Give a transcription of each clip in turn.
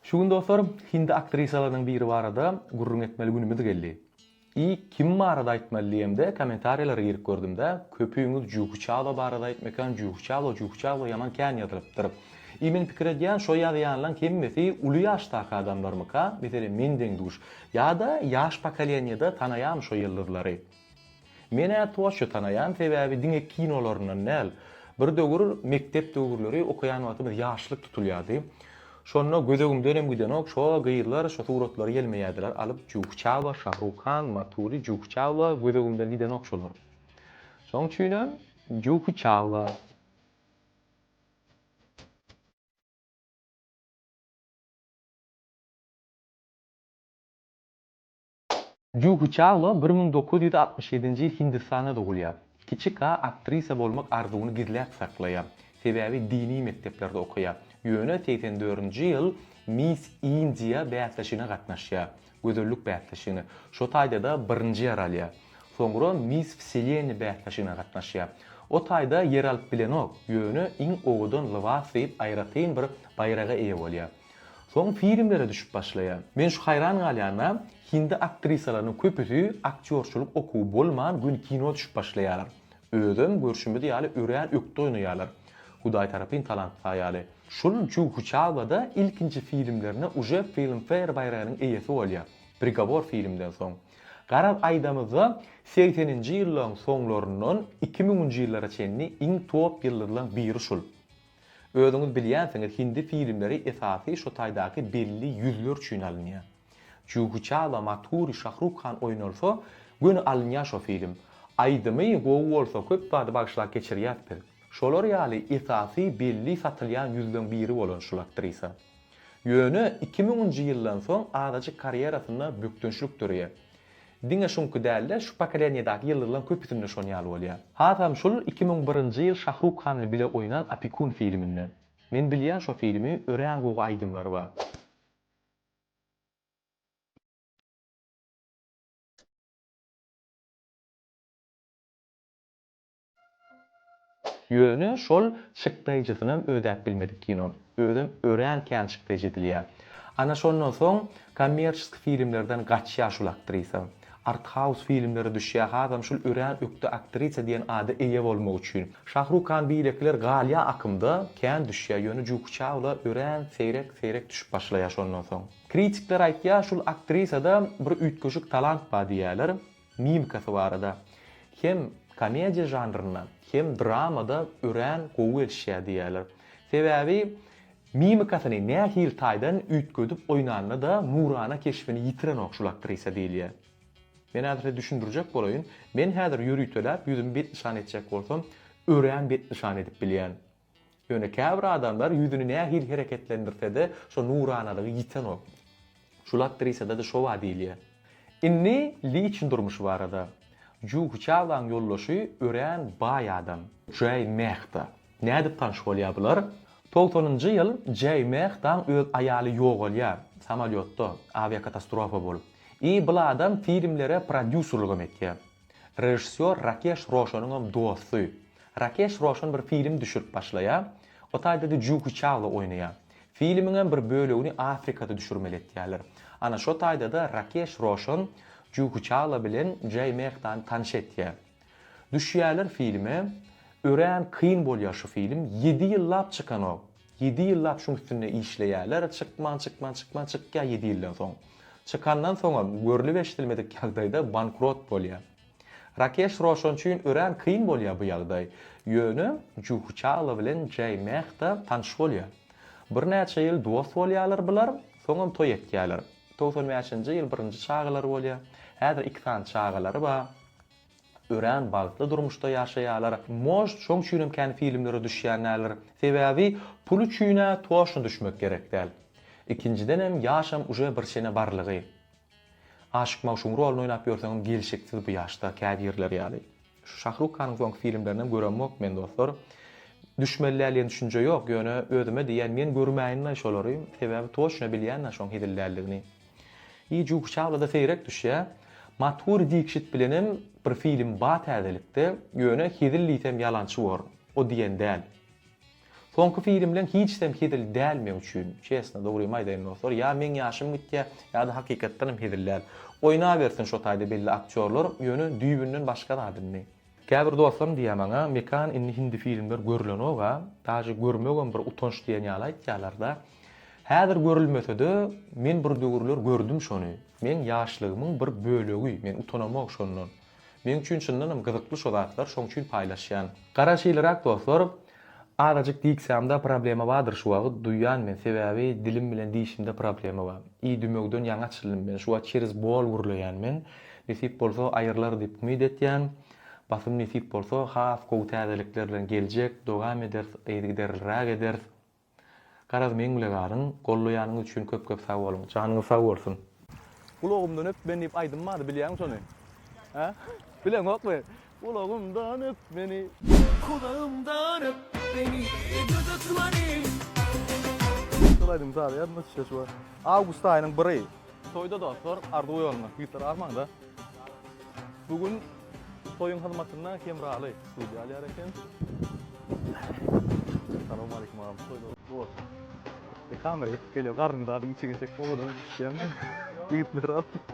Şu gün dostlar hindi aktrisalarynyň biri barada gürrüň etmeli günümiz geldi. I kim barada aýtmaly diýemde kommentariýalara girip gördümde köpüňiz Juhi Çawla barada aýtmykan Juhi Çawla Juhi Çawla ýaman kän ýazylypdyr. I men pikir edýän şo ýazýanlaň hemmesi uly ýaşdaky adamlarmyka meselem mendeň duş ýada ýaş pokoleniýada tanaýamy şo ýyldyzlary. Men-ä Toşy tanaýan sebäbi diňe kinolaryndan däl. Bir döwür mekdep döwürleri okaýan wagtymyz ýaşlyk tutulýardy. Şonda gözegimdenem gidenok şo gyzlar şo suratlary ýelmeýärdiler alyp Juhçawa, Şahrukan, Matuli, Juhçawa gözegimden gidenok şolar. Şoň üçinem Juhçawa. Juhi Chawla bir müň dokuz ýüz altmyş ýedinji ýyl Hindistanda dogulýar. Kiçi Ka aktrisa bolmak arzuwyny gizläp saklaýar, sebäbi dini mekdeplerde okaýar. Ýöne segsen dördünji ýyl Miss India bäsleşigine gatnaşýar, gözellik bäsleşigine. Şo taýda-da birinji ýer alýar. Soňra Miss Wseleniýa bäsleşigine gatnaşýar. O taýda ýer alyp bilenok, ýöne iň owadan lybas diýip aýratyn bir baýraga eýe bolýar. Soň filmlere düşüp başlaýar. Men şu haýran galýana, hindi aktrisalarynyň köpüsi aktýorçylyk okuwy bolman gün kino düşüp başlaýarlar. Özem görşümiz ýaly örän ökde oýnaýarlar. Hudaý tarapyn talant saýaly. Şul Juhu Çalwa-da ilkinji filmlerine uje Filmfare baýragynyň eýesi bolýar. Prigovor filmden soň. Garaz aýdamyzda segseninji ýyllaryň soňlaryndan iki müňünji ýyllara çenli iň top ýyldyzlaň biri şul. Özüňiz bilýänsiňiz hindi filmleri esasy şo taýdaky belli ýüzler üçin alynýa. Juhi Çawla, Maturi, Şahruk Han oýnalsa göni alynýa şo film. Aýdymy gowy bolsa köp zady bagyşlap geçirýäs biz. Şolar ýaly esasy belli satylýan ýüzleň biri bolan şul aktrisa. Ýöne iki müňünji ýyldan soň azajyk karýerasynda bökdençlik döreýä. Diňe şuňky däl-de, şu pokoleniýadaky ýyldyzlaň köpüsinde şon ýaly bolýar. Hasam şul iki müň birinji ýyl Şahruk Han bilen bile oýnan Opekun filminde. Men bilýän şo filmi, örän gowy aýdymlary bar. Ýöne şol çykdaýjysynam ödäp bilmedik kinony. Özem örän kän çykdaýjy edilýär. Ana şondan soň kommerçeski filmlerden gaçýar şul aktrisa. Arthaus filmlere düşýär hasam şul örän ökde aktrisa diýen ada eýe bolmak üçin. Şahruk Han beýlekiler galýar akymda, kän düşýär, ýöne Juhi Çaula örän seýrek seýrek düşüp başlaýar şondan soň. Kritikler aýtýar şul aktrisada bir üýtgeşik talant bar diýýärler. mimikasy barada, hem komediýa žanrynda, hem dramada örän gowy gelişýär diýýärler. Sebäbi mimikasyny nähili taýdan üýtgedip oýnanda-da nurana keşbini ýitirenok şul aktrisa diýilýär. Men häzir size düşündirjek bolaýyn. Men häzir ýöriteläp ýüzümi betnyşan etjek bolsam, örän betnyşan edip bilýän. Ýöne käbir adamlar ýüzüni nähili hereketlendirse-de, şo nuranalygy ýitenok. Şul aktrisada-da şo bar diýilýär. Indi liçn durmuşy barada. Juhi Çaolaň ýoldaşy örän baý adam. Jaý Mehta. Nädip tanyş bolýar bular? Togsanynjy ýyl Jaý Mehtaň öz aýaly ýogalýar, samolýotda, awiakatastorofa bolup. I bul adam filmlere prodýuserligem etýär. Režissýor Rakeş Roşanyňam dosty. Rakeş Roşan bir film düşürip başlaýar. O taýda-da Juhi Çawla oýnaýar. Filmiňem bir bölegini Afrikada düşürmeli etýärler. Ana şo taýda-da Rakeş Roşan Juhi Çawla bilen Jay Mehdany tanyş etýär. Düşýärler filme. Örän kyn bolýar şu film. Ýedi ýyllap çykanok. Ýedi ýyllap şuň üstünde işleýärler, çykman, çykman, çykman, çykýar ýedi ýyldan soň. Çykandan soňam, görlüp-eşidilmedik ýagdaýda bankrot bolýar. Rakeş Roşan üçin örän kyn bolýar bu ýagdaý. Ýöne Juhi Çawla bilen Jaý Mehta tanyş bolýar. Birnäçe ýyl dost bolýarlar bular, soňam toý etýärler. Togsan bäşinji ýyl birinji çagalary bolýar. Häzir iki sany çagalary bar. Örän bagtly durmuşda ýaşaýalar. Most şoň üçinem kän filmlere düşýän däldir. Sebäbi pul üçinä toşna düşmek gerek däl. Ikinjidenem ýaşam uje bir çene barlygy. Aşyk magşugyň roluny oýnap ýörseňem gelşiksiz bu ýaşda käbirler ýaly. Şu Şahruk hanyň soňky filmlerinem göremok men dostlar. Düşmeli däl diýen düşünje ýok, ýöne özüme diýýän men görmäýin-le şolary, sebäbi toşna bilýän-ä şoň hezil däldigini. Ýe Juh Çawlada seýrek düşýä. Mathuri Dikşit bilenem bir film ba täzelikde ýöne hezil diýsem ýalançy bor o diýen däl. Soňky filmleň hiçsem hezil däl meň üçin. Çesna dogrymy aýdaýyn dostlar ýa meň ýaşym gitýä ýada hakykatdanam hezil däl. Oýnabersin şo taýda belli aktýorlar ýöne düýbünden başga zat indi. Käbir dostlarym diýýär maňa, Mekan indi hindi filmler görülenok-a, daže görmegem bir utanç diýen ýaly aýtýarlar-da. Häzir görülmese-de, men bir döwürler gördüm şony. Meň ýaşlygymyň bir bölegi, men utanamok şondan. Meň üçin çyndanam gyzykly şo zatlar, şoň üçin paýlaşýan. Garaşylyrak dostlar, Azajyk diksiýamda problema bardyr şu wagyt duýýan men sebäbi dilim bilen diýişimde problema bar. I dümewden ýaňy açyldym men şu wagyt çerez bol gürleýän men. Nesip bolsa aýyrlar diýip umyt etýän. Basym nesip bolsa has gowy täzelikler bilen geljek dogam eders yzygiderliräk eders. Garaz meň bile galyň, gollaýanyňyz üçin köp köp sag boluň. Janyňyz sag bolsun. Gulagymdan öp men diýip aýdym bardy bilýäňmi şony? Hä? Bileňokmy? Gulagymdan öp meni. Gulagymdan öp meni ey gözel Tumanim. Şol aýdym saz ýadyma düşýär şu wagt. Awgust aýynyň biri. Toýda dostlar arzuw ýoluna. Güýçler agmaň-da. Bu gün. Toýuň hyzmatyna Hemraly studiýa alýar eken. Salam aleýkum agam. Toýlaryň gutly bolsun. Bir kamera ýetip gelýär. Garnyň zadyny içe geçsek owadan düşýämi? Ýigitler alyp.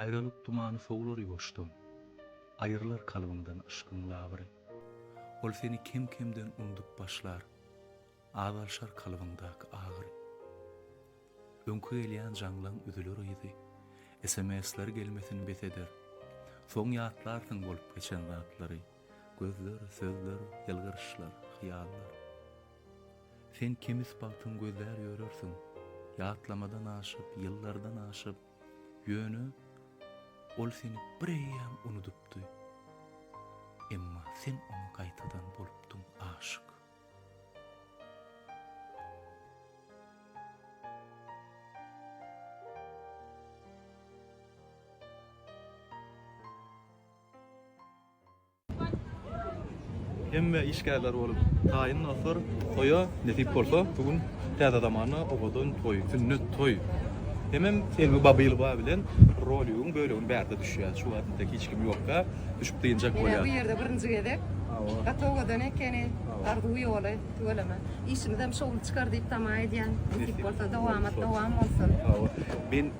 Aýralyk tumany sowlar ýuwaşdan, Aýrylar kalbyňdan yşkyň labyry. Ol seni kem-kemden undup başlar, Azalşar kalbyňdaky agyry. Öňki gelýän jaňlaň üzüler yzy, Sms-ler gelmesin bes eder. Soň ýatlarsyň bolup geçen zatlary, Gözler, sözler, ýylgyryşlar, hyýallar. Sen kemis bagtyň gözlär ýörersiň, Ýatlamadan aşyp, ýyllardan aşyp, Ýöne ol seni bireýýäm unudypdy. Emma sen oňa gaýtadan bolupdyň aşyk. Hemme işgärler bolup taýyn dostlar. Toýa nesip bolsa bu gün täze zamana owadan toý, sünnet toý. Hemem Selbi Babylowa bilen roligiň bölegini bärde düşýär. Şu wagt entek hiç kim ýokka, düşüp dynjak bolýar. Menä bu ýerde birinji gezek. Hawa. Gaty owadan ekeni. Arzuw ýoly tüweleme. Işimizem şowly çykar diýip tama edýän. Nesip bolsa dowamat dowam bolsun. Hawa. Men